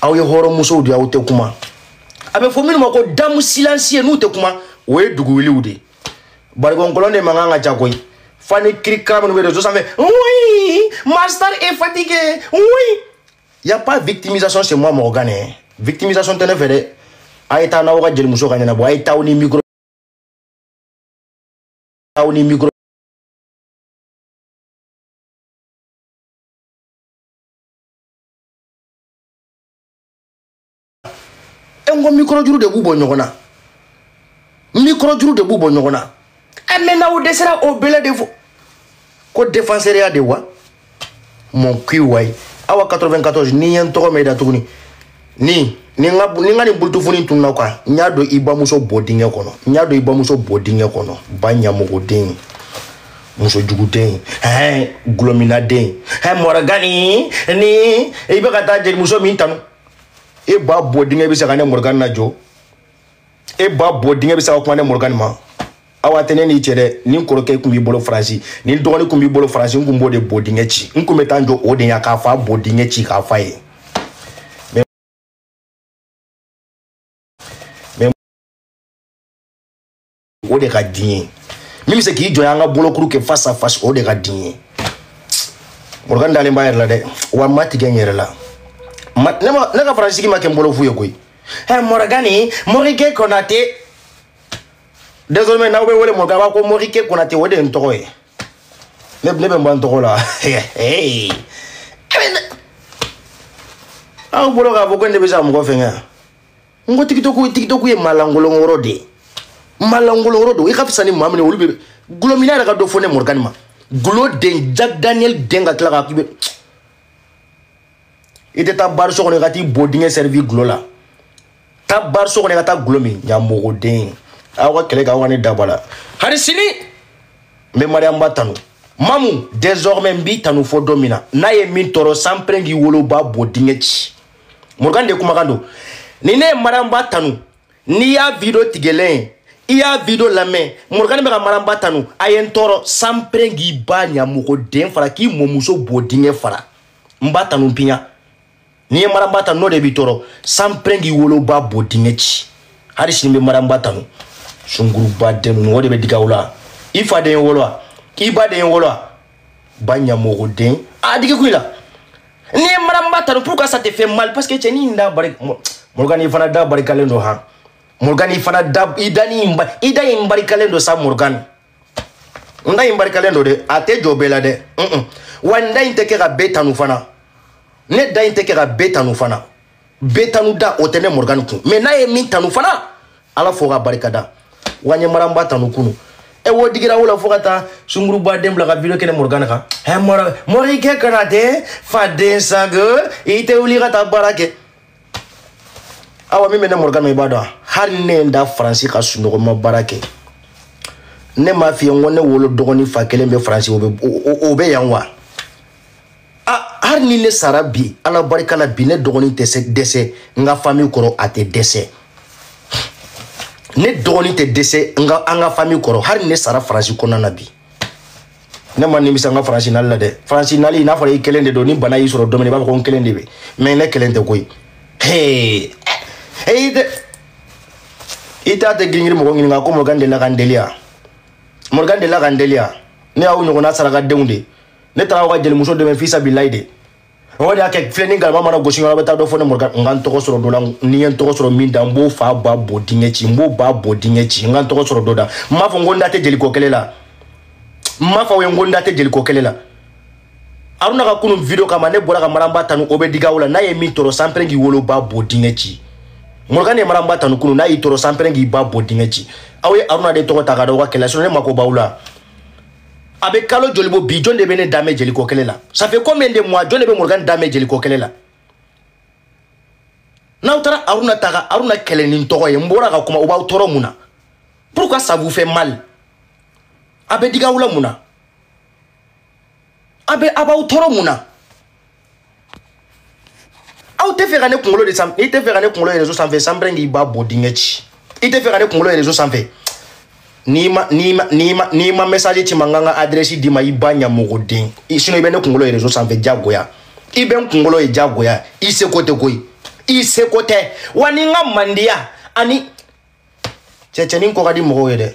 aw ye hɔrɔnmusow de aw tɛ kuma a bɛ fɔ minnu ma ko damu silansiye n'u tɛ kuma o ye dugu wiliw de ye barikon kolon de mankan ka ca koyi fo ni kirikara minnu bɛ rezo sanfɛ oui ma star est fatiguée oui y a pas victimisation chez moi morgan dɛ victimisation tɛ ne fɛ dɛ a ye taa n'aw ka jelimuso k'a ɲɛnabɔ a ye taa aw ni micro aw ni micro n ko mikorojuru de b'u bɔ ɲɔgɔn na mikorojuru de b'u bɔ ɲɔgɔn na ɛ mais n'aw dɛsɛra o bɛlɛ de fɔ ko defanseriya de wa mon cul wayi awa 94 ni n ye n tɔgɔ mɛn i da tuguni ni ni n ka ni n ka nin bulutufuni tununa kan n y'a don i bamuso bo dingɛ kɔnɔ n y'a don i bamuso bo dingɛ kɔnɔ ba ɲamɔgɔden muso juguden ɛɛ gulɔminaden ɛɛ morgani ni i bɛ ka taa jelimuso min tanu e ba bo dingɛ bɛ se ka ne morgani lajɔ e ba bo dingɛ bɛ se ka kuma ne morgani ma awa a tɛ ne n'i cɛ dɛ ni kɔrɔkɛ tun b'i bolo faransi ni dɔgɔnin tun b'i bolo faransi n tun b'o de bo dingɛ ci n tun bɛ taa n jɔ o de ɲɛ k'a fa bo dingɛ ci k'a f'a ye. o de ka di n ye min bɛ se k'i jɔ n ɲa an ka bolokuru kɛ face à face o de ka di n ye morgan dalen b'a yɛrɛ la dɛ wa n ma tigɛ n yɛrɛ la ne ka faransi sigi ma kɛ n bolo fu ye koyi ɛ morgani morike konate désormais n'aw bɛ n wele morgan b'a ko morike konate o de ye n tɔgɔ ye ne bɛ n ban n tɔgɔ la aw bolo k'a fɔ ko ne bɛ se ka mɔgɔ fɛngɛ yan n ko tikitɔku tikitɔku ye malankolon yɔrɔ de ye malankolon yɔrɔ don i ka fisa ni maa min ye olu bɛ gulɔmina yɛrɛ ka dɔ fɔ ne morgani ma gulo den jack daniel den ka tila ka k'i bɛ i tɛ taa bari so kɔnɔ i ka t'i bo dingɛ servi gulo la taa bari so kɔnɔ i ka taa gulo min ɲamɔgɔden aw ka kɛlɛ kɛ aw ka ne da bɔ a la hari sini n bɛ mariyamu ba tanu mamu désormais n b'i tanu fo don min na n'a ye min tɔɔrɔ sanpɛrɛn k'i woloba bo dingɛ ci morgan de kumakan don ni ne ye mariam ba tanu n'i y'a video tigɛlen ye i y'a video lamɛn morgan bɛ ka mariam ba tanu a ye n tɔɔrɔ sanpɛrɛn k'i ba ɲamɔgɔden fara k'i mɔmuso bo dingɛ fara n b'a tanu piɲa ni n ye mariam ba tanu n'o de b'i tɔɔrɔ sanpɛrɛn k'i woloba bo dingɛ ci hali sini n bɛ mariam ba tanu sungurunba den ninnu o de bɛ digi aw la i fa de ye n wolo wa i ba de ye n wolo wa ba ɲamɔgɔden a digi kun i la ne ye mariam ba tanu pourquoi ça te fait mal parce que cɛnin da bari morgan i fana da barikalen don han morgan i fana da i da ni i da in barikalen don sa morgan n da in barikalen don dɛ a tɛ jɔ bɛɛ la dɛ wa n da in tɛ kɛ ka bɛɛ tanu fana ne da in tɛ kɛ ka bɛɛ tanu fana bɛɛ tanu da o tɛ ne morgan kun mais n'a ye min tanu fana ala fo ka barika da wa n ye mariam ba tanu kunun e o digira aw la fo ka taa sunguruba den bila ka video kɛ ne morgan kan ɛ mɔrɔ morikɛ konatɛ faden sango i tɛ wuli ka taa baara kɛ awa min bɛ ne morgan i b'a dɔn hali ne ye n da faransi ka sunɔgɔ n ma baara kɛ ne m'a f'i ye n ko ne wolo dɔgɔnin fa kelen bɛ faransi o bɛ yan wa Ah, hali ni ne sara bi ala barika la bi ne dɔgɔnin tɛ se dɛsɛ n ka famille kɔrɔ a tɛ dɛsɛ ne dɔgɔnin tɛ dɛsɛ n ka an ka famille kɔrɔ hali ne sara faransi kɔnɔna na bi ne ma nimisa n ka faransi nali la dɛ faransi nali n'a fɔra i kelen de don ni bana y'i sɔrɔ domini i b'a fɔ ko n kelen de bɛ mais ne kelen tɛ koyi hee eyi dɛ i t'a tɛ giringiri mɔgɔ ɲininka ko morgan delila ka n deli yan morgan delila ka n deli yan ne y'aw ɲɔgɔnna sarakadenw de ye ne taara aw ka jelimuso dɛmɛ fisabilayi de o de y'a kɛ filen ni galama mana gosi yɔrɔ bɛ taa dɔ fɔ ne morgan n ka n tɔgɔ sɔrɔ dɔ la ni n ye n tɔgɔ sɔrɔ min da n b'o fa ba bɔ dingɛ ci n b'o ba bɔ dingɛ ci n ka n tɔgɔ sɔrɔ dɔ da n m'a fɔ n ko n da tɛ jeliko kɛlɛ la n m'a fɔ aw ye n ko n da tɛ jeliko kɛlɛ la aruna ka kunun video kama ne bɔra ka mariam ba tanu o bɛ digi aw la n'a ye min tɔɔrɔ sanpɛrɛn k'i woloba bɔ dingɛ ci morgan ye mariam ba tanu kunun n'a y'i tɔɔrɔ sanpɛrɛn k'i ba bɔ dingɛ ci aw ye aruna de tɔgɔ ta ka da aw ka kɛlɛ la ne mako b'aw la a bɛ kalo joli bɔ bi jɔn de bɛ ne da mɛn jeliko kɛlɛ la ça fait combien de mois jɔn de bɛ morgan da mɛn jeliko kɛlɛ la n'aw taara aruna ta ka aruna kɛlɛ ni n tɔgɔ ye n bɔra ka kuma o b'aw tɔɔrɔ mun na pourquoi ça vous fait mal a bɛ digi aw la mun na a bɛ a b'aw tɔɔrɔ mun na aw tɛ fɛ ka ne kunkolo de sanfɛ i tɛ fɛ ka ne kunkolo ye rezo sanfɛ sanpɛrɛn k'i ba bɔ dingɛ ci i tɛ fɛ ka ne kunkolo ye rezo sanfɛ n'i ma n'i ma n'i ma n'i ma message ci n ma n ka n ka adresse d'i ma i ba ɲamɔgɔden sinon i bɛ ne kunkolo ye rezo sanfɛ diyagoya i bɛ n kunkolo ye diyagoya i seko tɛ koyi i seko tɛ wa ni n ka mandiya ani cɛcɛnin ko ka di mɔgɔw ye dɛ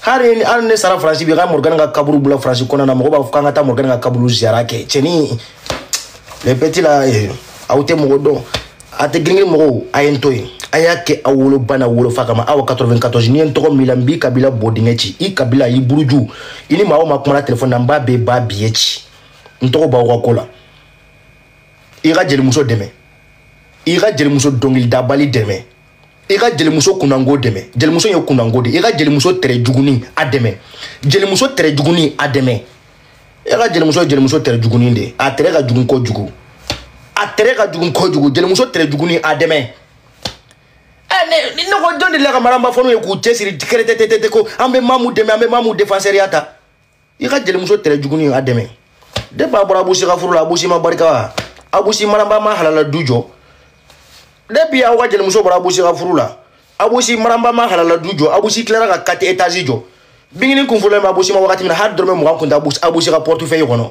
hali ni hali ne sara faransi bi ka morgan ka kaburu bila faransi kɔnɔna na mɔgɔ b'a fɔ k'an ka taa morgan ka kaburu ziyara kɛ cɛnin les petits là eh, aw tɛ mɔgɔ dɔn a tɛ girin mɔgɔw a ye n to yen a y'a kɛ aw woloba n'aw wolofa kama aw 94 n'i ye n tɔgɔ min la n b'i kabila bɔ dingɛ ci i kabila i buruju i ni maa o maa kumana telefɔni na n b'a bɛɛ ba biyɛ ci n tɔgɔ b'aw ka ko la i ka jelimuso dɛmɛ i ka jelimuso dɔnkilidabali dɛmɛ i ka jelimuso kunnango dɛmɛ jelimuso ye kunnango de i ka jelimuso tere jugunin a dɛmɛ jelimuso tere jugunin a dɛmɛ i ka jelimuso ye jelimuso tere jugunin de a tere ka jugun kojugu a tere ka jugun kojugu jelimuso tere jugunin a dɛmɛ eh, ne ne ko jɔn de la ka maramba fanw ye k'u cɛsiri kɛrɛtɛtɛtɛ ko an bɛ mamu dɛmɛ an bɛ mamu defansɛriya ta i ka jelimuso tere juguni a dɛmɛ depuis a bɔra abusi ka furu la abusi ma barika wa abusi maramba ma halala du jɔ depuis aw ka jelimuso bɔra abusi ka furu la abusi maramba ma halala du jɔ abusi tilara ka 4 étages jɔ bingini kunfɔlɔ ma abusi ma wagati min na hali dɔrɔmɛ mugan kun tɛ abusi ka portefeuille kɔnɔ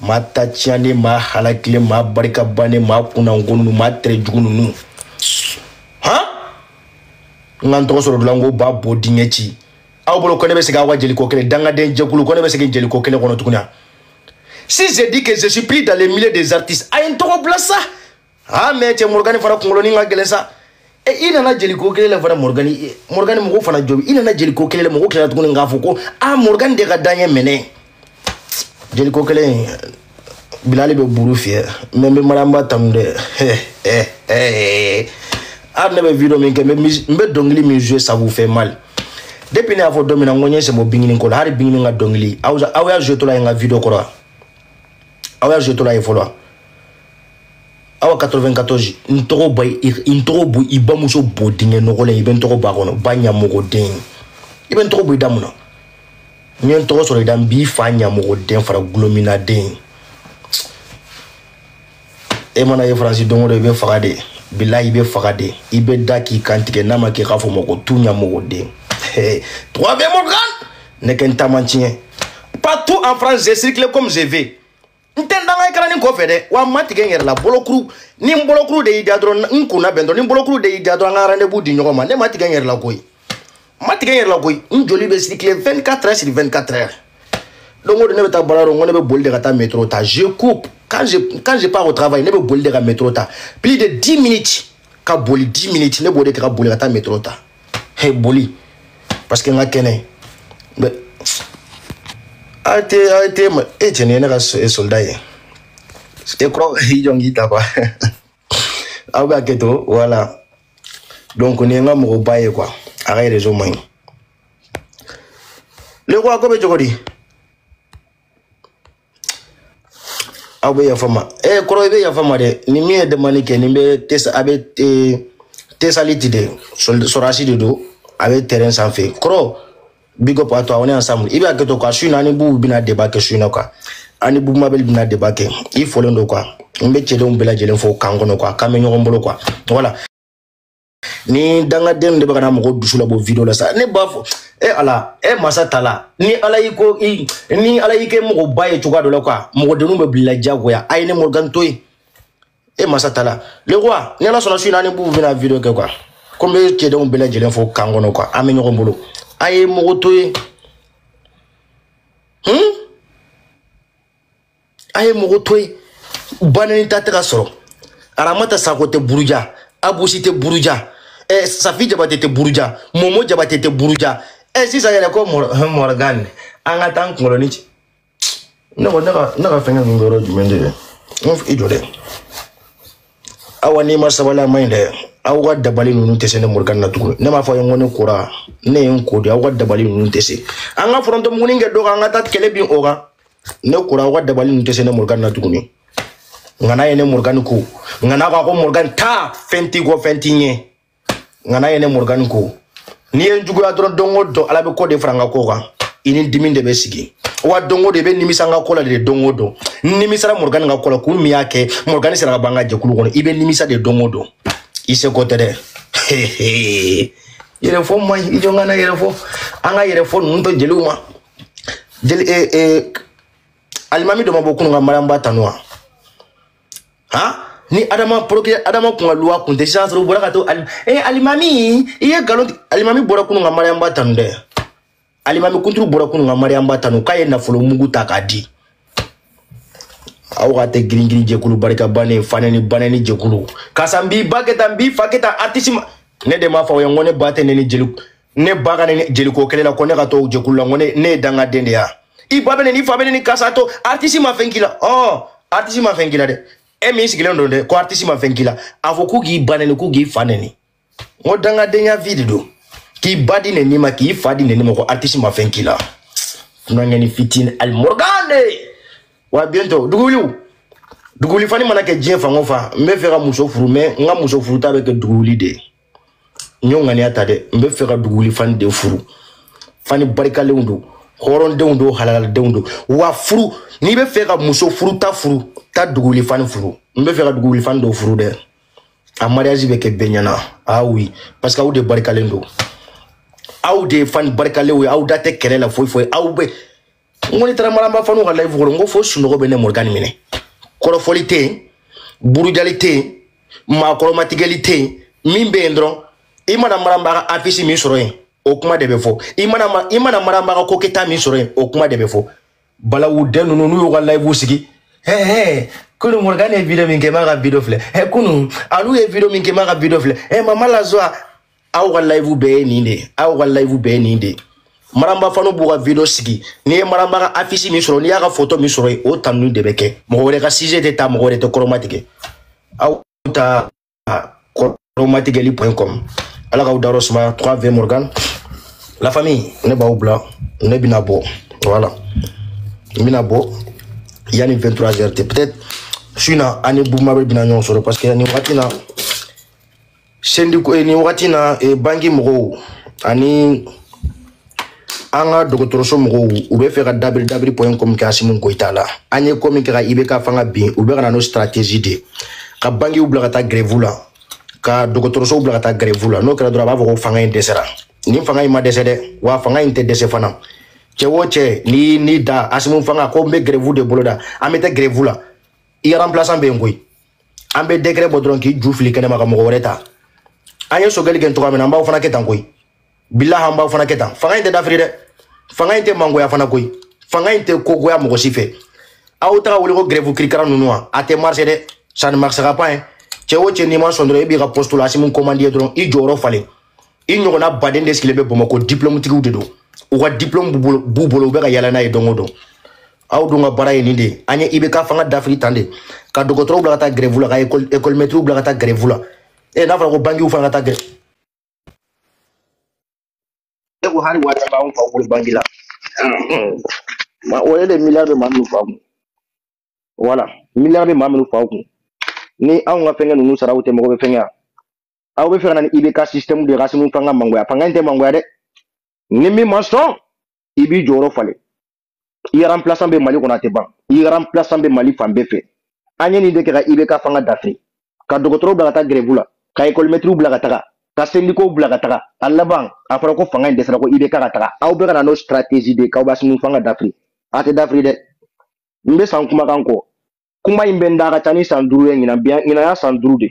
maa ta tiɲɛnen maa halakilen maa barikabannen maa kunnango ninnu maa tere jugu ninnu han n ka n tɔgɔ sɔrɔ dilan ko ba bo dingɛ ci aw bolo ko ne bɛ segin aw ka jeliko kɛlɛ dangaden jɛkulu ko ne bɛ segin jeliko kɛlɛ kɔnɔ tuguni si je dis que je suis plus dans les milieux des artistes a ye n tɔgɔ bila sa aa mais cɛ morgan fana kungolonin ka gɛlɛn sa e i nana jeliko kɛlɛ la fana morgan e, morgan mɔgɔw fana jɔbi i nana jeliko kɛlɛ la mɔgɔw tilara tuguni k'a fɔ ko a morgan de ka dan ye mais ne jeliko kɛlɛ bilali bɛ buru fiyɛ mais n bɛ maramba tanu dɛ a ne bɛ video min kɛ n bɛ dɔnkili min jouer ça vous fait mal depuis ne y'a fɔ don min na n ko n ye sɛmɔ bingini ko la hali bingini ka dɔnkili aw y'a jouer to la ye n ka video kɔrɔ wa aw y'a jouer to la ye fɔlɔ awa 94 n tɔgɔ bɔ n tɔgɔ bɔ i bamuso bo dingɛ nɔgɔlen i bɛ n tɔgɔ bɔ a kɔnɔ ba ɲamɔgɔden i bɛ n tɔgɔ bɔ i da mun na n ye n tɔgɔ sɔrɔ i da n b'i fa ɲamɔgɔden fara gulominaden e mana ye faransi don o don i bɛ faga de bilahi i bɛ faga de i bɛ da k'i kantigɛ n'a ma kɛ k'a fɔ ma ko tu ɲamɔgɔden tubabu bɛ morgan ne kɛ n taama tiɲɛ partout en france je circule comme je veux n tɛ n danga i kɛra nin kɔfɛ dɛ wa n ma tigɛ n yɛrɛ la bolokuru ni n bolokuru de y'i da dɔrɔn n kunna bɛn dɔrɔn ni bolokuru de y'i da dɔrɔn an ka rendez-vous di ɲɔgɔn ma ne ma tigɛ n yɛrɛ la koyi n ma tigɛ n yɛrɛ la koyi n joli bɛ circuler 24 heures sur 24 heures don o don ne bɛ taa baara yɔrɔ n ko ne bɛ boli de ka taa métro ta je cours quand je quand je pars au travail ne bɛ boli de ka métro ta plus de 10 minutes ka boli 10 minutes ne b'o de kɛ ka boli ka taa métro ta he boli parce que n ka kɛnɛ mais a tɛ a tɛ ma e cɛnin ye ne ka soldat ye e kɔrɔ i jɔn k'i ta quoi aw bɛ hakɛ to voilà donc nin ye n ka mɔgɔba ye quoi a ka réseau man ɲi le quoi ko bɛ cogo di aw bɛ yafa n ma ɛ kɔrɔ i bɛ yafa n ma dɛ ni min ye demande kɛ ni bɛ tesa a bɛ tesaliti de sɔrɔdasi de don a bɛ terrain sanfɛ kɔrɔ big up à toi on est ensemble i bɛ hakɛ to quoi su in na an ni bubu bɛna débat kɛ su in na quoi an ni bubu mabɛli bɛna débat kɛ i folen don quoi n bɛ cɛdenw bɛɛ lajɛlen fo kan kɔnɔ quoi k'an bɛ ɲɔgɔn bolo quoi voilà ni dangaden de bɛ ka na mɔgɔ dusu labɔ video la sa ne b'a fɔ e ala e masa tala ni ala y'i ko i ni ala y'i kɛ mɔgɔba ye cogoya dɔ la quoi mɔgɔdenninw bɛ bila diyagoya a ye ne morgan to yen e masa tala le roi ni ala sɔnna su in na ni bubu bɛna video kɛ quoi ko n bɛ cɛdenw bɛɛ lajɛlen fo kan kɔnɔ quoi an bɛ ɲɔgɔn bolo a ye mɔgɔ to yen hmm? a ye mɔgɔ to yen banani ta tɛ ka sɔrɔ aramata sako tɛ buruja abu si tɛ buruja eh, safi jabate tɛ buruja momo jabate tɛ buruja eh, sisan yɛrɛ ko morgan an ka taa n kunkolo ni ci ne ko ne ka ne ka fɛngɛ ninnu yɔrɔ jumɛn de ye n ko i jɔ dɛ awa n'i ma sabali a man ɲi dɛ aw ka dabali ninnu tɛ se ne morgan na tuguni ne m'a fɔ aw ye n ko ne kora ne ye n ko de aw ka dabali ninnu tɛ se an ka forontomuguni kɛ dɔ kan an ka taa kɛlɛ bin o kan ne kora aw ka dabali ninnu tɛ se ne morgan na tuguni ŋana ye ne morgan ko ŋana ko a ko morgan taa fɛn t'i kɔ fɛn t'i ɲɛ ŋana ye ne morgan ko n'i ye n juguya dɔrɔn don o don ala bɛ ko de fara n ka ko kan i ni dimi de bɛ sigi wa don o don i bɛ nimisa n ka ko la de don o don n nimisara morgan ka ko la kun min y'a kɛ morgan sera ka bɔ an ka jɛkulu kɔnɔ i bɛ nimisa de don o don i seko tɛ dɛ yɛrɛfɔ man ɲi i jɔ n kana yɛrɛfɔ an ka yɛrɛfɔ ninnu to jeliw ma jeli e e alimami dɔ ma bɔ kunun ka mariam ba tanu wa han ni adama poroke adama kun ka luwa kun tɛ sisan sɔrɔ u bɔra ka to alim e alimami i ye nkalon tigɛ alimami bɔra kunun ka mariam ba tanu dɛ alimami kunturu bɔra kunun ka mariam ba tanu k'a ye nafolo mugu ta k'a di aw ka tɛ giringirin jɛkulu barika bannen fanɛni banɛni jɛkulu karisa n b'i ba kɛ tan n b'i fa kɛ tan artisi ma ne de m'a fɔ aw ye n ko ne ba tɛ nɛni jeli ne ba ka ne jeliko kelen na ko ne ka to jɛkulu la ko ne ne ye dangaden de ye wa i ba bɛ nɛni i fa bɛ nɛni k'a sɔrɔ artisi ma fɛn k'i la ɔ artisi ma fɛn k'i la dɛ e min sigilen don dɛ ko artisi ma fɛn k'i la a fɔ k'u k'i ba nɛni k'u k'i fa nɛni n ko dangadenya vie de don k'i ba di nɛni ma k'i fa di nɛni ma ko artisi ma fɛn k'i la dunankɛni fitini ali morgan de wa bientôt duguwuliw duguwuli fani mana kɛ diɲɛ fan o fan n bɛ fɛ ka muso furu mais n ka muso furuta bɛ kɛ duguwuli de ye n y'o ŋaniya ta dɛ n bɛ fɛ ka duguli fani de furu fani barikalenw don hɔrɔndenw don halaladenw don wa furu n'i bɛ fɛ ka muso furuta furu taa duguli fani furu n bɛ fɛ ka duguli fani dɔ furu dɛ a mariage bɛ kɛ bɛɛ ɲɛna ah oui parce que aw de barikalen don aw de ye fani barikalenw ye aw da tɛ kɛlɛ la foyi foyi aw bɛ n ko n'i taara maramba fanw ka live kɔrɔ n ko fo sunɔgɔ bɛ ne morgan minɛ kɔrɔfɔli tɛ yen burujali tɛ yen maa kɔrɔmatigɛli tɛ yen min bɛ yen dɔrɔn i mana maramba ka afisi min sɔrɔ yen o kuma de bɛ fɔ i mana i mana maramba ka ko kɛta min sɔrɔ yen o kuma de bɛ fɔ balawu den ninnu n'u y'u ka live sigi hɛɛ hɛɛ kunu morgan ye video min kɛ m'a ka video filɛ ɛ kunu alu ye video min kɛ m'a ka video filɛ ɛ mama la joie aw ka live bɛɛ ye nin de ye aw ka live bɛɛ ye nin de ye maramba fanw b'u ka video sigi n'i ye maramba ka afisi min sɔrɔ n'i y'a ka foto min sɔrɔ yen o tanuni de bɛ kɛ mɔgɔ wɛrɛ ka sujet tɛ ta mɔgɔ wɛrɛ tɛ kɔrɔmatigɛ aw ta kɔrɔmatigɛli point com ala k'aw dayɔrɔ sumaya 3 v morgan la famille ne b'aw bila ne bɛna bɔ voilà n bɛna bɔ yanni 23 heures cɛ peut-être su in na an ni bubu mabel bɛna ɲɔgɔn sɔrɔ parce que nin wagati in na sendi eh, nin wagati na eh, banki mɔgɔw ani an ka dɔgɔtɔrɔso mɔgɔw u bɛ fɛ ka dabiri dabiri point com kɛ asimu goyita la an ye ko min kɛ ka ibk fanga bin u bɛ ka na n'o stratégie de ka bankiw bila ka taa grève la ka dɔgɔtɔrɔsow bila ka taa grève la n'o kɛra dɔrɔn a b'a fɔ ko fanga in dɛsɛra nin fanga in ma dɛsɛ dɛ wa fanga in tɛ dɛsɛ fana cɛ o cɛ ni ni da asimu fanga ko n bɛ grève de boloda an bɛ taa grève la i remplaçant bɛ yen koyi an bɛ décret bɔ dɔrɔn k'i ju fili kɛnɛma ka mɔgɔ wɛrɛ ta an ye sogɛli kɛ cogoya min na an b'aw fana kɛ tan koyi bilahi an b'aw fana kɛ tan fanga in tɛ dafiri dɛ fanga in tɛ mangoya fana koyi fanga in tɛ kogoya mɔgɔ si fɛ aw ta ka wuli ko grève kirikara ninnu wa a tɛ marché dɛ ça ne marchera pas hein cɛ o cɛ n'i ma sɔn dɔrɔn e b'i ka poste la asimu commande ye dɔrɔn i jɔyɔrɔ falen i ɲɔgɔnna baden de sigilen bɛ bamakɔ diplôme tigiw de don u ka diplôme b'u bolo u bɛ ka yaala n'a ye don o don aw dun ka baara ye nin de ye an ye ibk fanga dafiri tan de ka dɔgɔtɔrɔw bila ka taa grève la ka ekɔlimɛtiriw bila ka taa grève la e n'a fɔra ko bankiw fana ka taa grève e ko hali wari t'anw faw bolo banki la o ye de miliyari bɛ maa minnu fa kun voilà miliyari bɛ maa minnu fa kun ni anw ka fɛnkɛ ninnu saraw tɛ mɔgɔ bɛ fɛnkɛ yan aw bɛ fɛ ka na ni ibk sisitɛmu de ye k'asimu fanga mangoya fanga in tɛ mangoya dɛ ni min ma sɔn i b'i jɔyɔrɔ falen i remplaçant bɛ mali kɔnɔ a tɛ ban i remplaçant bɛ mali fan bɛɛ fɛ an ye nin de kɛ ka ibk fanga dafiri ka dɔgɔtɔrɔw bila ka taa grève la ka ekɔlimɛtiriw bila ka taga ka sendikow bila ka taga a laban a fɔra ko fanga in dɛsɛra ko ibk ka taga aw bɛ ka na n'o stratégie de ye k'aw b'asimu fanga dafiri a tɛ dafiri dɛ n bɛ san kumakan kɔ kuma in bɛ n da a ka ca ni san duuru ye ɲinan bi ɲinan y'a san duuru de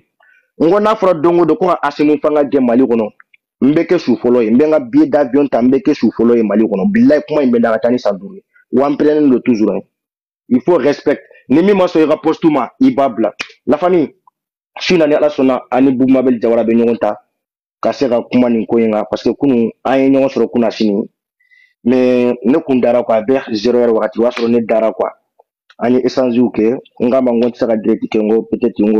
n ko n'a fɔra don o don ko ka asimu fanga gɛn mali kɔnɔ n bɛ kɛ su fɔlɔ ye n bɛ n ka billet d'avion ta n bɛ kɛ su fɔlɔ ye mali kɔnɔ bilayi kuma in bɛ n da a ka ca ni san duuru ye wa n parelen don toujours hein. il faut respect ni min ma sɔn i ka poste ma i b'a bila la famille su na ni ala sɔnna an ni bubu mabel jawara bɛ ɲɔgɔn ta ka se ka kuma nin ko in kan parce que kunun an ye ɲɔgɔn sɔrɔ kunasini mais ne kun dara quoi a bɛ zéro heure wagati o y'a sɔrɔ ne dara quoi an ye échangew kɛ n k'a ma n ko n tɛ se ka direct kɛ n ko peut-être n ko